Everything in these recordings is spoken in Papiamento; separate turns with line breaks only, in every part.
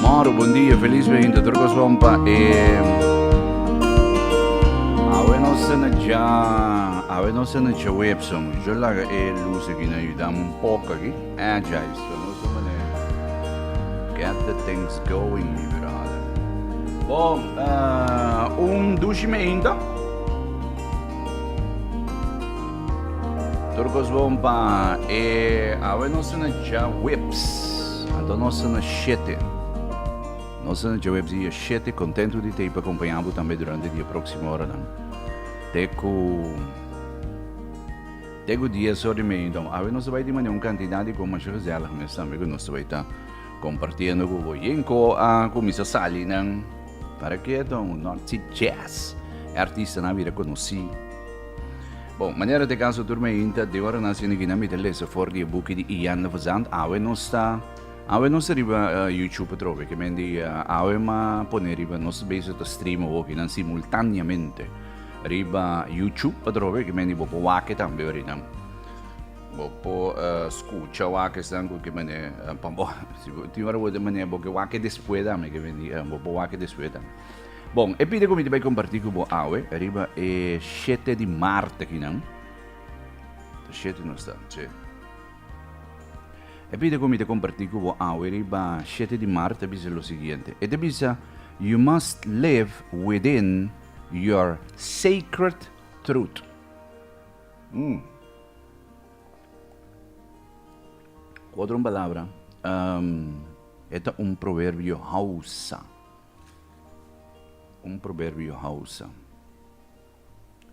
Moro, bon dia, felis beinta tur coson pa e. Awe no se na dja, awe no se na dja web son. Yo laga e luz aki na yudam un poco aki. Eh, dja is pa nos un manera. Get the things going, mi brada. Bo, eh, un dushi me einta. Tur cos bon pa e awe no se na dja webs. Anto nos a na shete. Nos a na djaweb dia shete, kontentu di tei pa kompañá bo tambe durante di e próksimo oranan. Te ku te ku dies ora di media. Enton, awe nos ta bai tin manera un kantidat di gomas shu gezèlig mes tambe ku nos ta bai ta kompartiendo ku bo. Yen ko a kuminsá sali nan? Para ke? Enton, North Sea Jazz, e artistanan a bira konosí. Bon, manera te caso turma inta, de ora nazi na Guinea mi te lesa for di e buki di Ian de Verzand, awe no sta, awe no sta riba uh, YouTube atrobe, que men di uh, awe ma pone riba, no sta bezig ta stream o hoki nan simultaneamente riba YouTube atrobe, que men di bopo wake tambe orinan. Bopo uh, escucha wake stan ku que men uh, pambo, si ti ora bote men boke wake después dame, que men di uh, bopo wake después dame. Bon, e pide ku mi ta bai kompartí ku bo awe riba e shete di Mart akinan. Ta shete nos ta, sí. E pide ku mi ta kompartí ku bo awe riba shete di Mart ta bisa lo siguiente. E ta bisa, You must live within your sacred truth. Mm. Ku otro palabra, e ta un proverbio Hausa. Un proberbio Hausa.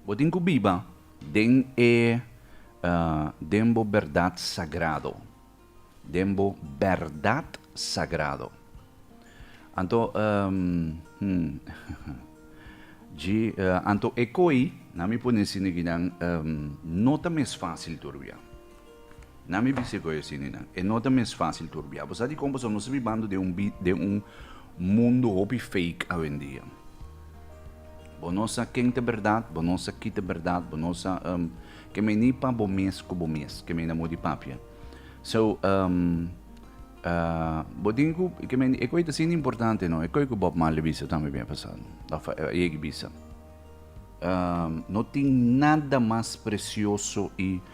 Bo tin ku biba den e den bo bèrdat sagrado. Den bo bèrdat sagrado. Anto hm dji anto e koi na mi por nesi neginan no ta mes fásil tur bia. Na mi bis'e koe sininan. E no ta mes fácil tur bia. Bo sa di kon boso no sta bibando den un den un mundo hopi fake awendia. Bo no sa ken ta bèrdat, bo no sa ki ta bèrdat, bo no sa kemey ni pa bo mes ku bo mes kemey na mudi papia. So, bo tin ku kemey e koe ta asina importante no. E koe ku Bob Marley bisa tambe bia pasado òf a yeg'i bisa, No tin nada mas presioso i.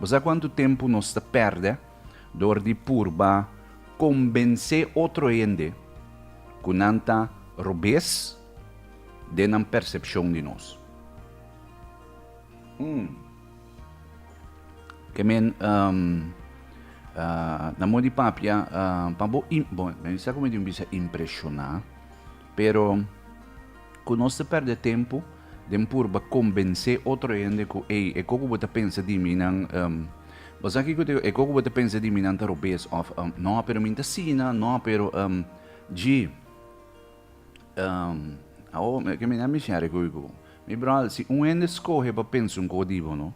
Bo sa kuantu tempu nos ta pèrdè dor di purba kombensé otro hende ku nan ta robes den nan persepshon di nos? Hm, ke men na modi papia pa bo, bon, men sa ku mi tin bisa impreshoná. Pero ku nos ta pèrdè tempu den purba kombensé otro hende ku ey, e koko bo ta pensa di mi nan, em, Basta kiko te digo, e koko bo ta pensa di mi nan ta robes, òf, em, Nò, pero mi no ta asina, nò, pero, em, dji, em, Awo, mi ke mina mi share ku ku mi bròder, si un hende skohe pa pensa un koko di bo, no,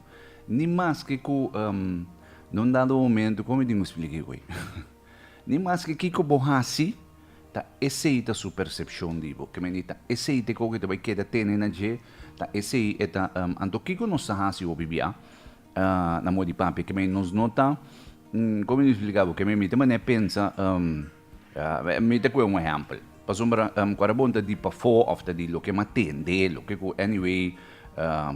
ni maske ku, em, no un dado momento, kon mi tin ku splika e goi? Ni maske kiko bo hasi, ta esei ta su persepshon di bo. Kemey di ta esei te koke ta bai keda tene na dje, ta esei e ta. Anto kiko nos ta hasi hopi bia na moe di papia? Kemey nos no ta, kome mi splika bo? Kemey mi ta mané pensa, mi ta kue un ehèmpel. Pasobra cuando bon ta di pafó of ta di loke ma tende, loke cu anyway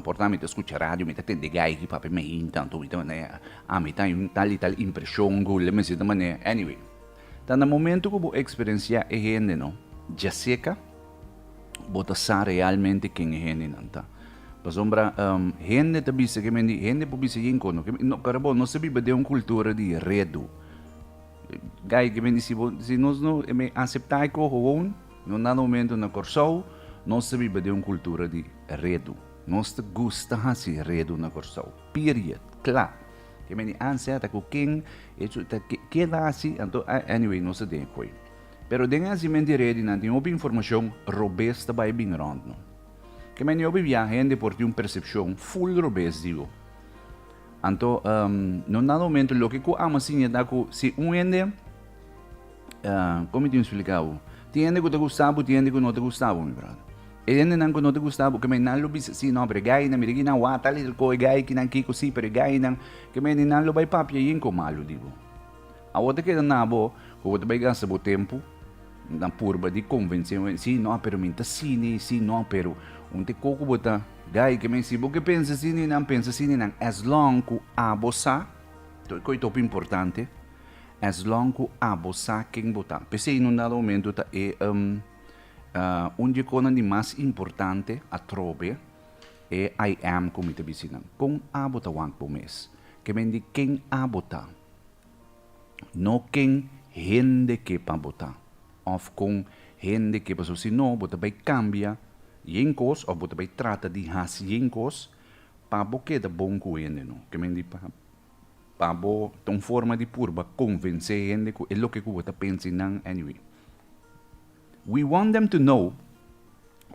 por ta mi ta scucha radio mi ta tende gai aki papia mi ain tanto mi ta mane ami ta un tal y tal impresion cu le meseta mane anyway. Ta na momento cu bo experencia e hende no dja seca bo ta sa realmente ken e hendenan ta. Pasobra hende ta bisa ke men di hende por bisa yin cono ke men di, no, cuando bo no sa biba den un cultura di redu, Guy ke bini si bo si nos no asepta e koho won no na momento na Kòrsou nos ta biba den un kultura di redu nos ta gusta hasi redu na Kòrsou period kla ke bini anseta ku ken e su ta keda asi anto anyway nos ta den e koe pero den e hasimenti redi nan tin hopi informashon robes ta bai bin rònt no ke bini hopi biaha hende por tin un persepshon ful robes di bo. Anto no na momento loke ku amo siña ta ku si un hende como tin explica bo tin hende ku ta gusta bo tin hende ku no ta gusta bo mi brother e hendenan ku no ta gusta bo ke men nan lo bisa si no pero e gainan mira kinan wata lel ko e gai kinan kiko si pero e gainan ke men nan lo bai papia yin ko malo di bo. Awor ta keda na bo ku bo ta bai gasta bo tempu na purba di konvensé un hende. Sí nò, pero mi ta sini, sí nò, pero. Un te koko bo ta gai ke men. Si bo ke pensa sini nan, pensa sini nan. As long ku abo sa, to e kos top importante, as long ku abo sa ken bo ta. P'esei in un dado momentu ta e un di e kosnan di mas importante atrobe e I am ku mi ta bisí nan. Kon abo ta wak bo mes? Ke men di ken abo ta? No ken hende ke pa bo ta, òf kon hende ke pasobra si no bo ta bai kambia yen kos òf bo ta bai trata di hasi yen kos pa bo keda bon ku hende. No. Ke men di pa pa bo ta un forma di purba konvensé hende ku e loke ku bo ta pensa i nan, anyway. We want them to know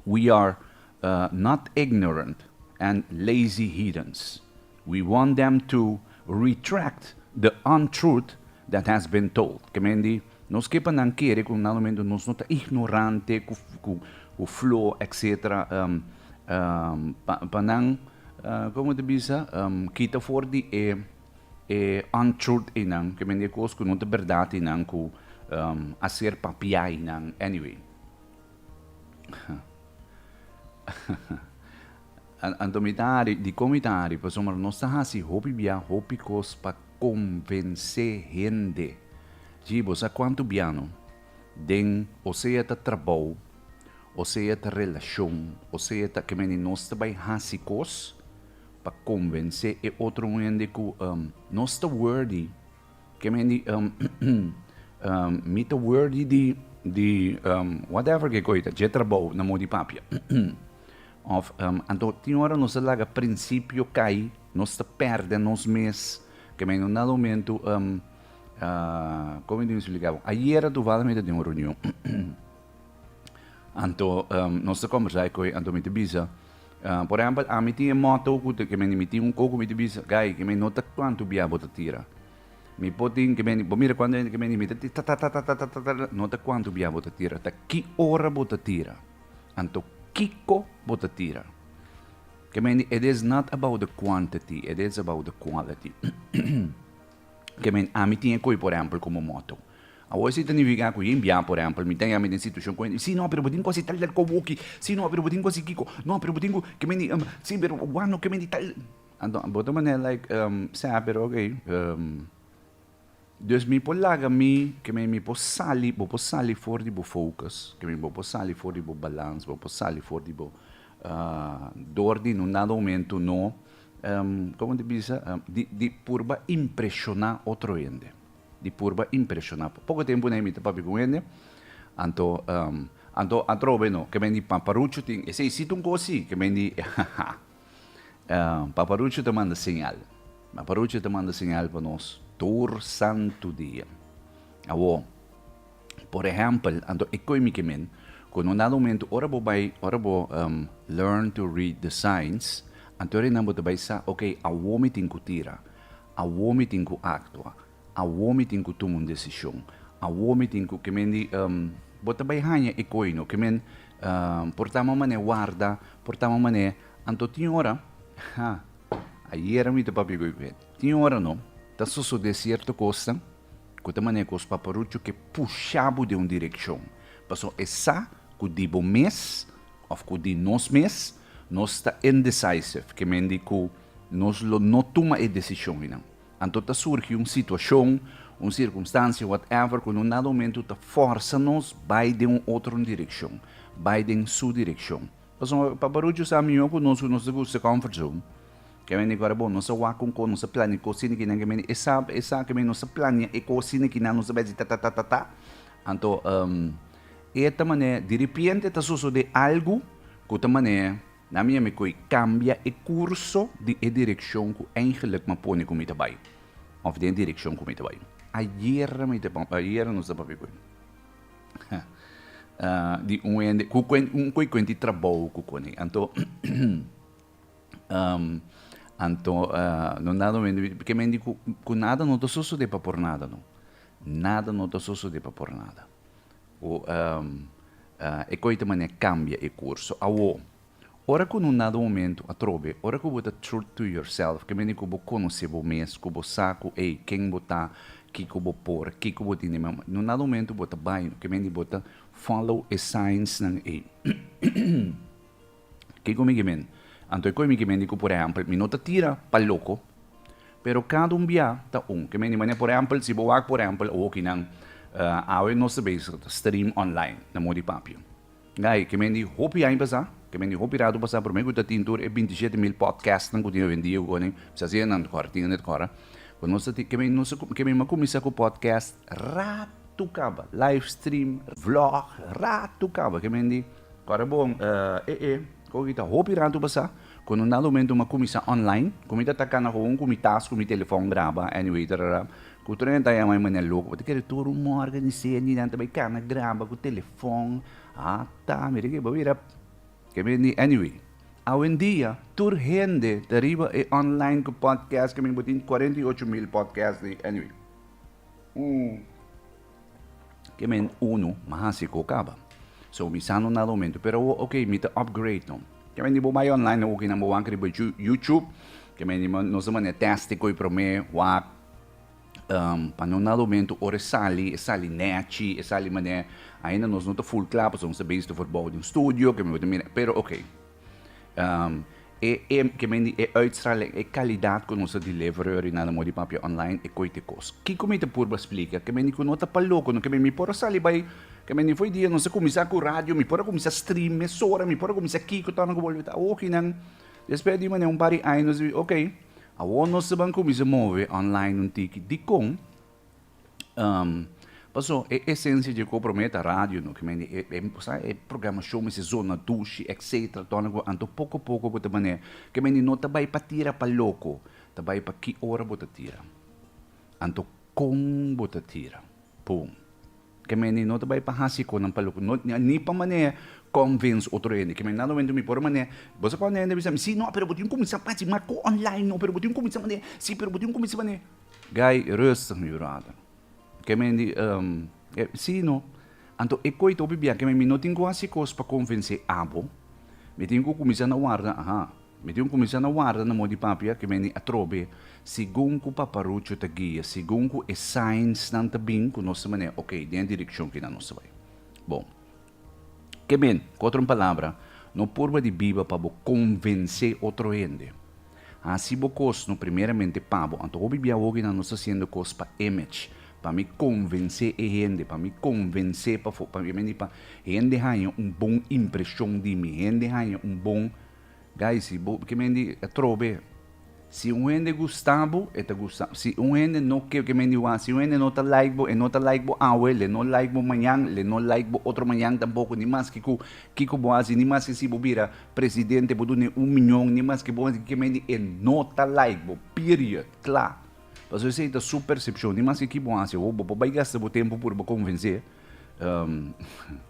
we are not ignorant and lazy heathens. We want them to retract the untruth that has been told. Ke men di, Nos ke pa nan kere ku nan mentu nos no ta ignorante ku flo, etc. Pa nan, komo ta bisa, kita for di e. E untruth einan, ke mende kos ku no ta bèrdat einan ku a ser papia einan. Anyway. Anto mi ta hari, dikon mi ta hari? Pasobra nos ta hasi hopi bia, hopi kos pa konvensé hende. Djii, bo sa kuantu bia no? Den, osea ta trabou, osea ta relashon, osea ta ke mende nos ta bai hasi kos, pa konvensé e otro hende ku nos ta wordi, ke men di mi ta wordi di whatever ke koi ta, dje trabou na mou di papia. Òf, anto tin ora nos ta laga prinsipio kai, nos ta pèrdè nos mes, ke men unda lumentu komo mi ta spliká bo? Ayera tuval mi ta den un reunion, anto nos ta kòmbersá i koi, anto mi ta bisa. Por ehempel, ami tin e motto cu te kebeni mi tin un coco mi ta bisa, Guy, kebeni no ta cuanto bia bo ta tira. Mi por tin kebeni, bo mira cuanto hende kebeni mi ta tira, ta ta ta ta ta ta ta ta, no ta cuanto bia bo ta tira, ta ki ora bo ta tira. Anto, kico bo ta tira. Kebeni, it is not about the quantity, it is about the quality. Kebeni, ami tin e coi, por ehempel, como motto. Awor esi ta nifiká ku yin biaha, por ehèmpel, mi ta yama i den situashon ku hende, sí, no, pero bo tin ku hasi tal i tal kobo aki, sí, no, pero bo tin ku hasi kiko, no, pero bo tin ku, ke men di, sí, pero wan no ke men di tal. Anto, bo ta manera like, sea, pero ok, dus mi por laga mi, ke men, mi por sali, bo por sali for di bo focus, ke men, bo por sali for di bo balans, bo por sali for di bo dor di nun dado momento no, komo ta bisa? di purba impreshoná otro hende. Di purba impreshoná. Poko tempu na e mita papia ku un hende, anto, anto a trobe no, ke men di Paparucho tin esei siti un kos si, ke men di Paparucho ta manda señal. Paparucho ta manda señal pa nos tur santu dia. Awo, por ehèmpel, anto e koe mi ke men, kon un dado momento ora bo bai, ora bo learn to read the signs, anto e nan bo ta bai sa, oke, awor mi tin ku tira. Awor mi tin ku aktua. Awor mi tin ku tuma un desishon. Awor mi tin ku ke men di, Bo ta bai haña e koi no. Ke men por tama un manera warda, por tama un manera. Anto tin ora, ha, ayera mi ta papia ku e Gwen, tin ora no, ta sosodé sierto kosnan ku ta manera ku os paparuchu ke pusha bo den un direkshon. Pasobra e sa ku di bo mes òf ku di nos mes Nos ta indecisive, ke mendi ku nos lo no tuma e desishon ei nan. Anto ta surgi un situashon, un sirkumstansia, whatever, ku no nada momentu ta forsa nos bai den un otro direkshon, bai den Su direkshon. Pasobra pa Paparuchu sa mihó ku nos ku nos ta gusta comfort zone, ke mendi ku ora bon nos ta wak un kos, nos ta plania kos asina kinan, ke mendi e sa, e sa, ke mendi nos ta plania e kos asina kinan, nos ta bai si ta ta ta ta ta. Anto, E ta manera diripiente ta sosode algu ku ta manera na mi a mi koe kambia e kurso di e direkshon ku eingelik mi a pone ku mi ta bai òf den e direkshon ku mi ta bai. Ayer mi ta ayer nos ta papia ku e di un hende ku un koe kuent di trabou ku kone anto anto no na do mente ke mente ku nada no ta sosode pa por nada no nada no ta sosode pa por nada. Ku e koita mane kambia e kurso. Awo, ora ku no nada momentu atrobe, ora ku bo ta truth to yourself, ke mene ku bo konosé bo mes, ku bo sa ku ei, ken bo ta, kiko bo por, kiko bo tin di mama, no nada momentu bo ta bai, ke mene bo ta follow e signsnan ei. Kiko mi gimin? Anto e koe mi gimin di ku por ehèmpel mi no ta tira pa loko, pero kada un biaha ta un. Ke men di manera, por ehèmpel si bo wak por ehèmpel awokinan awe nos ta bezig stream online na moda di papia. Gai ke men di hopi aña pasá, ke men di hopi ratu pasá promé ku ta tin tur e binti shete mil podcastnan ku tin hoyendia ku konen bisha si nan ta kòrda, tin nan ta kòrda. Ku nos ta tin ke men nos ta ke men a kuminsá ku podcast ratu kaba, live stream, vlog ratu kaba ke men di. Kòrda bon eh eh. Koki ta hopi ratu pasá ku no nada omen tuma kuminsá online, ku mi ta taka na houn ku mi tas ku mi telefòn graba anyway tarara, ku Trena ta yama e manera loko pa ta kere tur un mòrga di sende nan ta bai kana graba ku telefòn ata mira ke bo bira ke mi di anyway awendia tur hende ta riba e online ku pòdkèst ke mi bo tin cuarenta y ocho mil pòdkèst di anyway. Ke men unu ma hasi ku kaba. So mi sa no na rumentu. Pero awor ok mi ta upgrade no. Ke men di bo bai online awor kinan bo wan kere bai YouTube. Ke men di nos a mane testi koe prome wak. Pa no na rumentu ora e sali e sali nechi e sali mane ainda nos no ta ful kla pasobra nos ta basitu forbou di un studio ke men bo ta mira pero ok. E ke men di e uitstraling, e kalidat ku nos ta deliver orinal na modi papia online e koe te kos. Kiko mi ta purba splika? Ke men di ku no ta pa loko, no ke men mi por a sali bai, ke men di for e dia nos a kuminsá ku radio, mi por a kuminsá stream mesora, mi por a kuminsá kiko torna ku bolbe ta awokinan. Despues di manera un par di aña nos di, oke, awor nos ta ban kuminsá move online un tiki. Dikon? Paso, e esensia dje kobro me ta radio no, keme e, e, sa, e programashon mes e zona dushi, etsetera, tòrna ku anto poko poko bo ta manera. Keme ni no ta bai pa tira pa loko, ta bai pa ki ora bo ta tira. Anto kon bo ta tira. Pum. Ke mene no ta bai pa hasi konan pa loke, no ni pa manè convince otro hende. Ke mene nan momento mi por manè, bo sa pa manè hende bisa mi, sí, no, pero bo tin kuminsá pa hasi, mako online no, pero bo tin kuminsá manè, sí, pero bo tin kuminsá manè. Guy, rustig mi bròder. Ke mene di, ehm, sí, no. Anto e koi ta hopi bia, ke mene mi no tin ku hasi kos pa konvensé abo, mi tin ku kuminsá na warda, aha. Mi tin kuminsá na warda na mó di papia ke meni atrobe segun ku Paparucho ta guia, segun ku e signsnan ta bin ku nos ta manera oke, den e direkshon kina nos ta bai. Bon, ke men, ku otro palabra, no purba di biba pa bo konvensé otro hende. Hasi bo kos no primeramente pa bo, anto hopi bia awoginan nos ta hasiendo kos pa image, pa mi konvensé e hende, pa mi konvensé pafo, pa mi meni pa hende haña un bon impreshon di mi, hende haña un bon Gaisi, bo kimen di trobe. Si un hende gusta bo, e ta gusta. Si un hende no ke, kimen di wak, si un hende no ta like bo, e no ta like bo awe, le no like bo mañan, le no like bo otro mañan tampoko, ni maske ku kiko bo hasi, ni maske si bo bira presidente, bo dune un miñon, ni maske bo hasi kimen di, e no ta like bo, period, kla. Pasobra esei ta su persepshon, ni maske ki bo hasi awo, bo por bai gasta bo tempu puru pa konvens'é.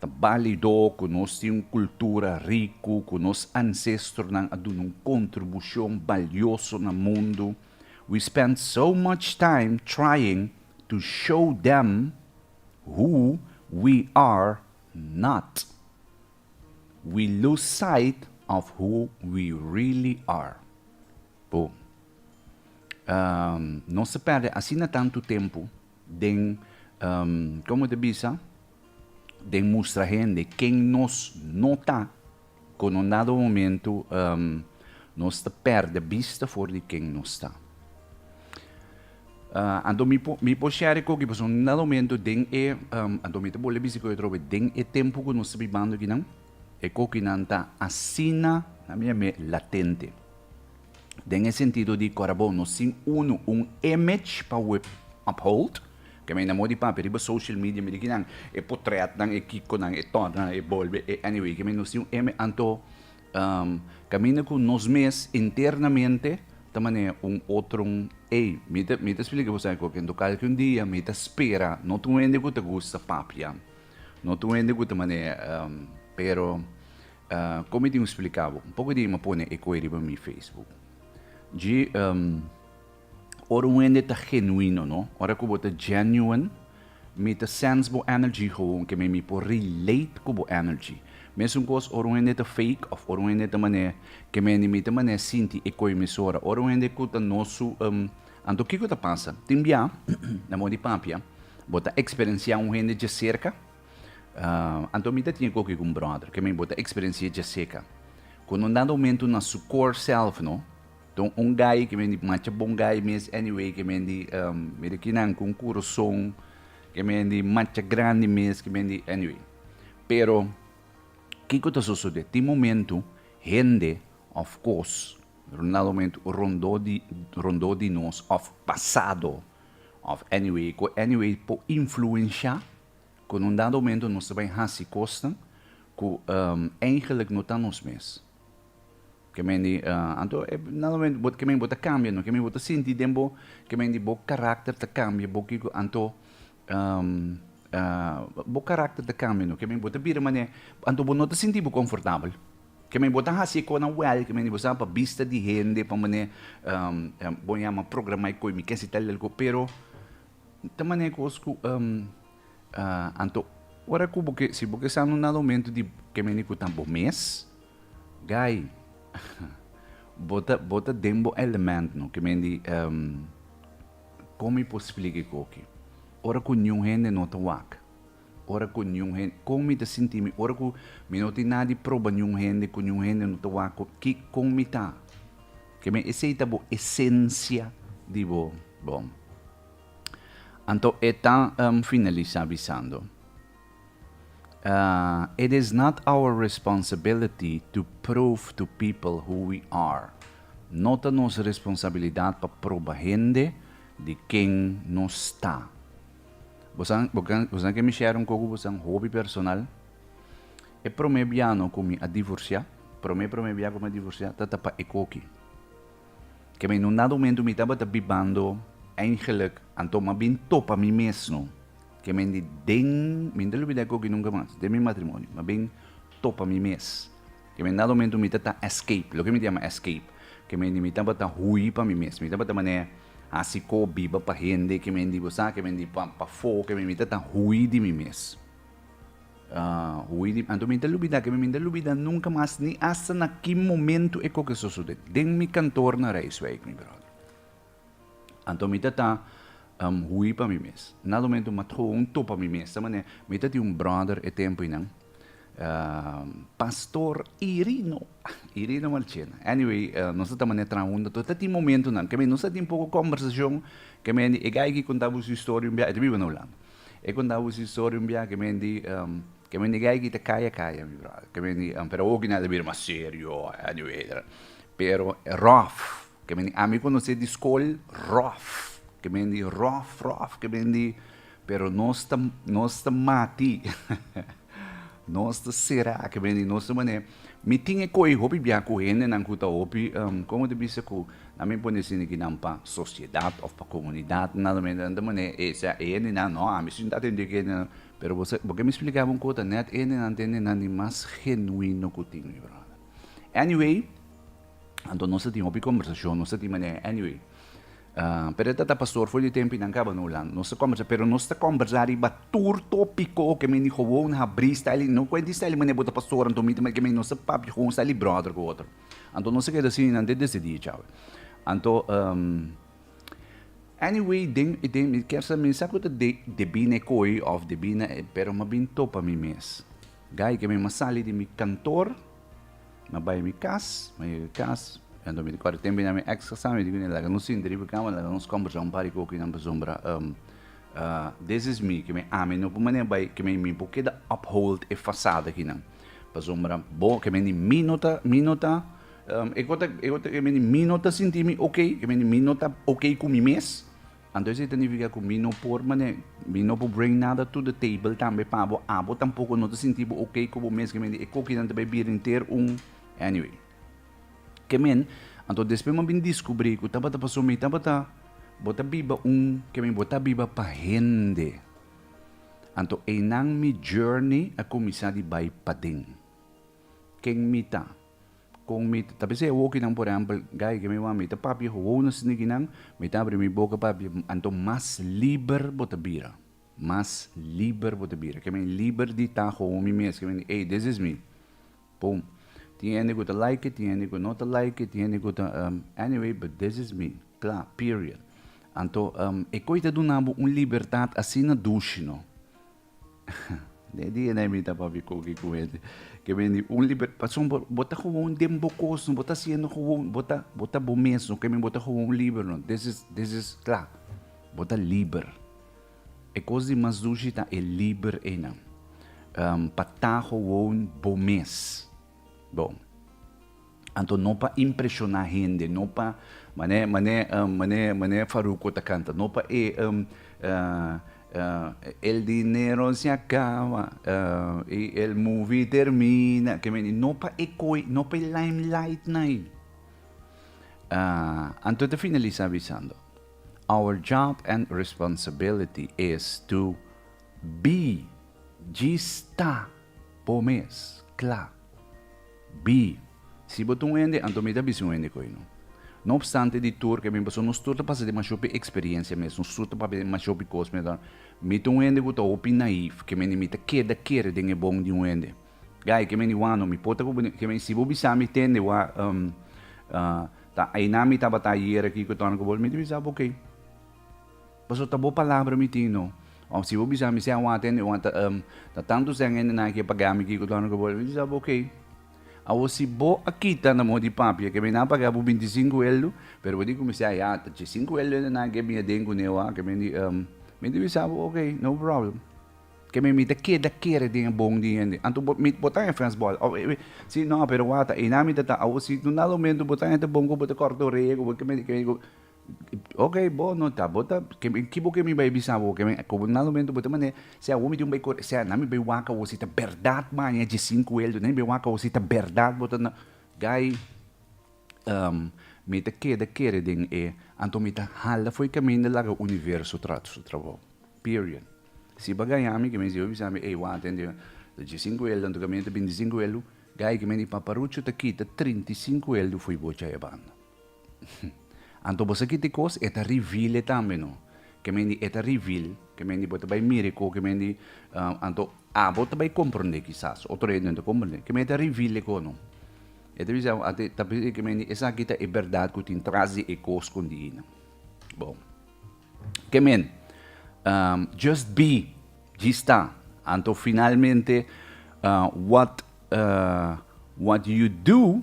Ta balido ku nos tin un kultura riku, ku nos ansestronan a duna un kontribushon balioso na mundu. We spend so much time trying to show them who we are not. We lose sight of who we really are. Bo, nos a pèrdè asina tantu tempu den, komo ta bisa? Den mustra hende ken nos no ta, kon un dado momento nos ta perde bista for di ken nos ta. Anto mi por mi por share koki pasobra un dado momento den e, anto mi ta bole bisti ku Etrobe, den e tempu ku nos ta bibando akinan e kokinan ta asina na mi a me latente. den e sentido di kor abo no sin unu un image pa ue uphold, ke mei na modi papia riba social media mi di kinan e potretnan e kikonan e totnan e bolbe e anyway ke mei no sin un image anto kaminda ku nos mes internamente ta manera un otron ey mi ta mi ta splika bo esaki koke anto kalki un dia mi ta spera no ta un hende ku ta gusta papia no ta un hende ku ta manera pero. Ah, kon mi tin ku splika bo? Un poko di hende a pone e kue riba mi Facebook. Dje, em, ora un hende ta genuino, no? Ora ku bo ta genuine, mi ta sense bo energy gewoon, ke mi mi por relate ku bo energy. Mesun kos ora un hende ta fake òf ora un hende ta manera, ke mi ni mi ta manera sinti e kue mesora. Ora un hende ku ta no su, em, anto kiko ta pasa? Tin bia, na moda di papia, bo ta eksperensiá un hende dje serka? Anto mi ta tin e koki ku un brother, ke men bo ta eksperensi'é dje seka. Kon un dado momentu na su kor sèlf no, ton un gai ke men di macha bon gai mes anyway ke men di mira kinan ku un kurason ke men di macha grandi mes ke men di anyway. Pero kiko ta sosodé? Tin momentu hende òf kos un dado momentu rondó di rondó di nos òf pasado òf anyway ku anyway por influenshá Cu na un dado momento nos ta bay haci cosnan cu eingelijk no ta nos mes. Ke men di, anto e dado momento bo, ke men di bo ta cambia no, ke men di bo ta sinti den bo, ke men di bo karakter ta cambia, bo kico, anto bo karakter ta cambia no, ke men di bo ta bira mane, anto bo no ta sinti bo confortabel. Ke men di bo ta haci e conan wel, ke men di bo sa pa bista di hende, pa mane bo yama programa e coi mi kesi tal y tal cos, pero Ta manera ku os ku um, uh, anto, ora ku bo ke, si bo ke sa un nada momento di ke meni ku ta bo mes, gai, bo ta, bo ta den bo element, no, ke men di, um, kon mi por splika e koki? Ora ku niun hende no ta wak. Ora ku niun hende, kon mi ta sinti mi ora ku mi no tin nada di proba niun hende, ku niun hende no ta wak ku kikon mi ta? Keme esei ta bo esensia di bo bon. Anto e ta finalisá bisando, It is not our responsibility to prove to people who we are. No ta nos responsabilidat pa proba hende di ken nos ta. Bosonan ke mi share un koko bosonan hopi personal. E prome biano ku mi a divorsia, prome prome bia ku mi a divorsia ta ta pa e koki. Ke mi no dado momento mi tabata bibando eigenlijk anto mas bin topa mi mesno ke mi di den, mi no ta lubida e koki nunka mas, den mi matrimonio, mas bin topa mi mes. Keme nada momento mi ta ta escape. Loke mi ta yama escape? Keme di mi tabata hui pa mi mes. Mi tabata manera hasi ko biba pa hende, keme di bo sa, keme di pa pafó, keme mi ta ta hui di mi mes. Hui, anto mi ta lubida, keme mi ta lubida nunka mas ni asta na ki momento e ko ke sosode den mi kantor na Rijswijk, mi bròder. Anto mi ta ta um hui pa mi mes. Na lumentu ma tho un tho pa mi mes ta manera mi ta tin un brother e tempo inan um Pastor Irino, Irino Marchena. Anyway um nos ta ta manera traha huntu anto ta tin momentunan ke mi nos ta tin poko combersacion ke mi di e guy aki conta bo su historia un biaha, e ta biba na Hulanda. E conta bo su historia un biaha ke mi di um ke mi di e guy aki ta kaya kaya mi brother ke mi di um pero awo aki nan a bira mas serio anyway etcetera pero rough Ke men di ami konosé di skol ròf, ke men di ròf ròf, ke men di pero nos ta nos ta mati nos ta será ke men di nos ta manera mi tin e koi hopi biaha ku hendenan ku ta hopi komo ta bisa ku na mi pone sin aki nan pa sosiedat òf pa komunidat nan men nan ta manera e sea e hendenan nò a mi si no ta atendié ku e hendenan pero bo sa bo ke mi splika bo un kos ta nèt e hendenan ta hendenan di mas genuino ku tin mi bròder anyway. Anto nos ta tin hopi kombersashon, nos ta tin manera anyway. Pero e ta ta pastor for di e tempo i nan kaba na Hulanda. Nos ta kombersá, pero nos ta kombersá riba tur tópiko ke men di gewoon habrí sta li. No kuenti sta li manera bo ta pastor anto mi ta manera ke mi. Nos ta papia gewoon sta li bròder ku otro. Anto nos a keda asina i nan ta desidí e tchau. Anto, anyway, den, den mi kier sa mi sa ku ta debí na e koi òf debí na e, pero mi a bin topa mi mes. Gai ke mi masali di mi kantor, ma bai mi kas, ma yega e kas, kantu mi ta kòrda tempu na mi èks kasá, mi di ku nel, laga nos sinti riba kama, laga nos kòmbersá un par di koke, nan pasobra des is mi, ke mi ami no por manera bai, ke mi por keda uphold e fasada akinan. Pasobra bo, ke men di mi no ta, mi no ta, e kos ta, e kos ta, ke men di mi no ta sinti mi ok, ke men di mi no ta ok ku mi mes. Anto esei ta nifiká ku mi no por manera, mi no por bring nada to the table tambe pa bo, abo tampoko no ta sinti bo oke ku bo meskien di e kokinan ta bai bira henter un, anyway. Ke men, anto despues mi a bin diskubrí ku tabata pasó mi tabata, bo ta biba un, ke men, bo ta biba pa hende. Anto einan mi journey a kuminsá di bai paden. Ken mi ta? Kon mi ta bisa e wokinan, por ehèmpel, Guy, ke mi wou a mi ta papia ku wou na snikinan, mi ta abri mi boka pa papia, anto mas liber bo ta bira. Mas liber bo ta bira. Ke men liber di ta komo mi mes, ke men di, ey, des is mi. Pum. Tin hende ku ta like, tin hende ku no ta like, tin hende ku ta, anyway, but des is mi. Kla, period. Anto, e koi ta duna bo un libertat asina dushi, no? Den e dia na e mira papi koki ku hende ke bini un liber pasobra bo bo ta gewoon den bo kos bo ta siendo gewoon bo ta bo ta bo mes no ke mi bo ta gewoon liber no this is this is kla bo ta liber e kos di mas dushi ta e liber einan pa ta gewoon bo mes bon. Anto no pa impreshoná hende, no pa, mané mané mané mané Farruko ta kanta, no pa e El dinero se acaba y el movie termina, ke men, no pa e koe, no pa e limelightnan ai. Anto ta finalisá bisando, our job and responsibility is to be djis ta bo mes kla. Bi, Si bo ta un hende, anto mi ta bisa un hende koe no. No opstante di tur ke mi paso, nos tur ta pasa demashó pi eksperiencia mes, nos tur ta papia demashó pi kos mes. Mi ta un hende ku ta hopi naif, ke mende mi ta keda kere den e bon di un hende. Guy, ke mende wak no, mi pota ku bo den, ke mende si bo bisa mi tende wak, um, uh, ta ainá mi tabata ayer aki ku torna ku bo, mi ta bisa bo, ok. Pasobra bo palabra mi tin no. Of si bo bisa mi sea wata hende wata um ta tanto seng hende nan a ke paga mi kiko torno ke bo mi bisa bo ok. Awor si bo a kita na moho di papia ke mi nan a paga bo binti sinku eldu pero bo di ku mi sea ya ta chi sinku eldu hende nan a ke bin aden ku neo a ke mi di um mi di bisa bo ok no problem ke mi mi ta keda kere den e bon di hende anto bo mi bo ta e fes bol of e si no pero wata einan mi ta ta awor si tunda lo mento bo ta hende bon ku bo ta korta orea ku bo ke mi di ke mi di ku. Ok, bo no ta, bo ta, ki bo ke mi bai bisa bo? Ke mi, komo nan momento bo ta manera, si awor tin un bai kore, si a nan mi bai wak awor si ta bèrdat maña dje sinku el, nan mi bai wak awor si ta bèrdat bo ta na, guy mi ta keda kere den e, anto mi ta hala fo'i kaminda laga universo tra su trabou. Period. Si bo gaña mi, ke mi siba bisa mi, ey wata ende, ta dje sinku el, anto kaminda ta binti sinku el, guy ke mi di paparucho ta kita trinti sinku el fo'i bo djaebanda. Anto bo sa kiti kos e ta rivile tambe no. Ke mendi e ta rivil, ke mendi bo ta bai mire ku ke mendi anto abo ta bai komprondé kisas, otro hende no ta komprondé. Ke mendi e ta rivile ku no. E ta bisa bo ate ta bisa ke mendi esaki ta e bèrdat ku tin tras di e kos ku di nan. Bon, ke men, just be, djis ta. Anto finalmente what what you do.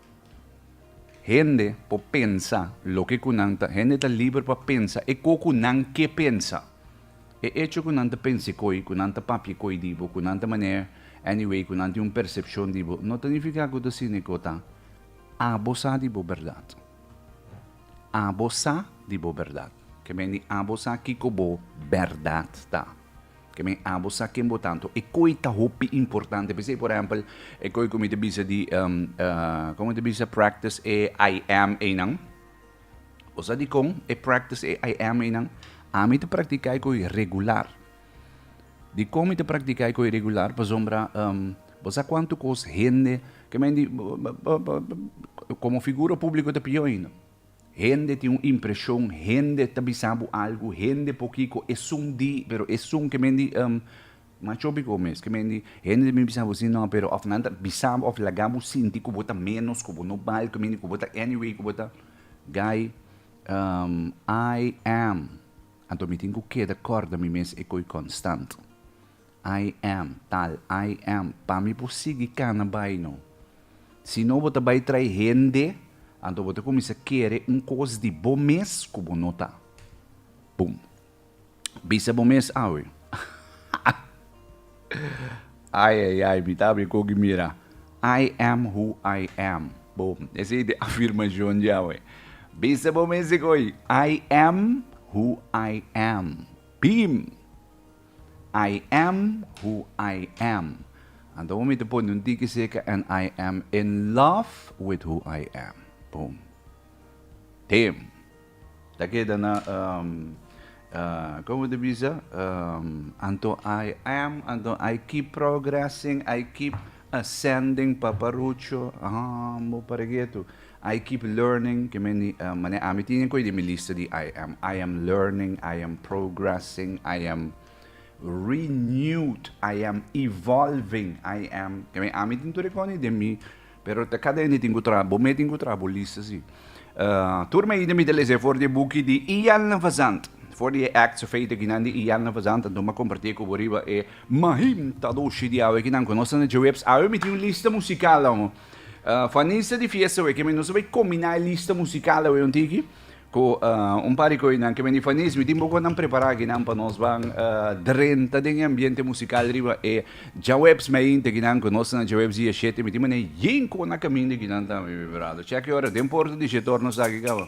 Hende por pensa loke cu nan ta, hende ta liber pa pensa eco cu nan ke pensa. E hecho cu nan ta pense coi, cu nan ta papie coi di bo, cu nan ta maner anyway, cu nan tin un percepcion di bo, no ta nifica cu ta sine cu ta abo sa di bo berdad. Abo sa di bo berdad. Ke meni abo sa kico bo berdad ta. Ke men abo sa ken bo tantu. E koe ta hopi importante. P'esei, por ehèmpel, e koe ku mi ta bisa di, kon mi ta bisa, practice e I am einan. Bo sa dikon e practice e I am einan? Ami ta praktiká e koe regular. Dikon mi ta praktiká e koe regular? Pasobra, bo sa kuantu kos hende ke men di, komo figura públiko ta pió ainda. Hende tin un impreshon, hende ta bisa bo algu, hende por kiko esun di, pero esun ke men di, em, macho biko mes, ke men di, hende ta bin bisa bo si no, pero of nan ta bisa bo of laga bo sinti ku bo ta menos, ku bo no bal, ke men di ku bo ta anyway, ku bo ta guy, em, I am, anto mi tin ku keda kòrda mi mes e koi konstant. I am tal, I am. Pa mi por sigui cana bay no. Si no bo ta bay trae hende, anto bo ta cuminsa kere un cos di bo mes cu bo no ta. Boom. Bisa bo mes awe. Ay ay ay, mi ta habi cogi mira. I am who I am. Boom. Esey ta e afirmacion dje awe. Bisa bo mes e coi. I am who I am. Beam! I am who I am. Anto bo mester pone un tiki seka en I am in love with who I am. Boom. Tem. Ta keda na um, uh, como te bisa? Um, anto I am, anto I keep progressing, I keep Ascending pa Parucho, ahaa bo pare getu. I keep learning, ke meni mane ami tin den koe di mi lista di I am. I am learning, I am progressing, I am renewed, I am evolving, I am, ke mei ami tin tur e koni den mi, pero ta kada hende tin ku traha, bo mei tin ku traha bo lista si. Tur mei iden mi ta lese for di e buki di Ian Van Zandt, for di e acts of faith akinan di Ian Van Zandt, anto mi a kompartie ku bo riba e Mahim ta doshi di awe kinan konos na djeweps. Awe mi tin un lista musical aho. Fanista di fiesta awe kemi nos a bay combina e lista musical awe un tiki cu un par di coinan kemi di fanis. Mi tin boconan prepara akinan pa nos ban drenta den e ambiente musical riba e djaweps. Mi a yinta kinan konos na djaweps dia shete. Mi tin manera yin cona camin di kinan tambe mi brado. Check e ora den porta di she torno sa aki caba.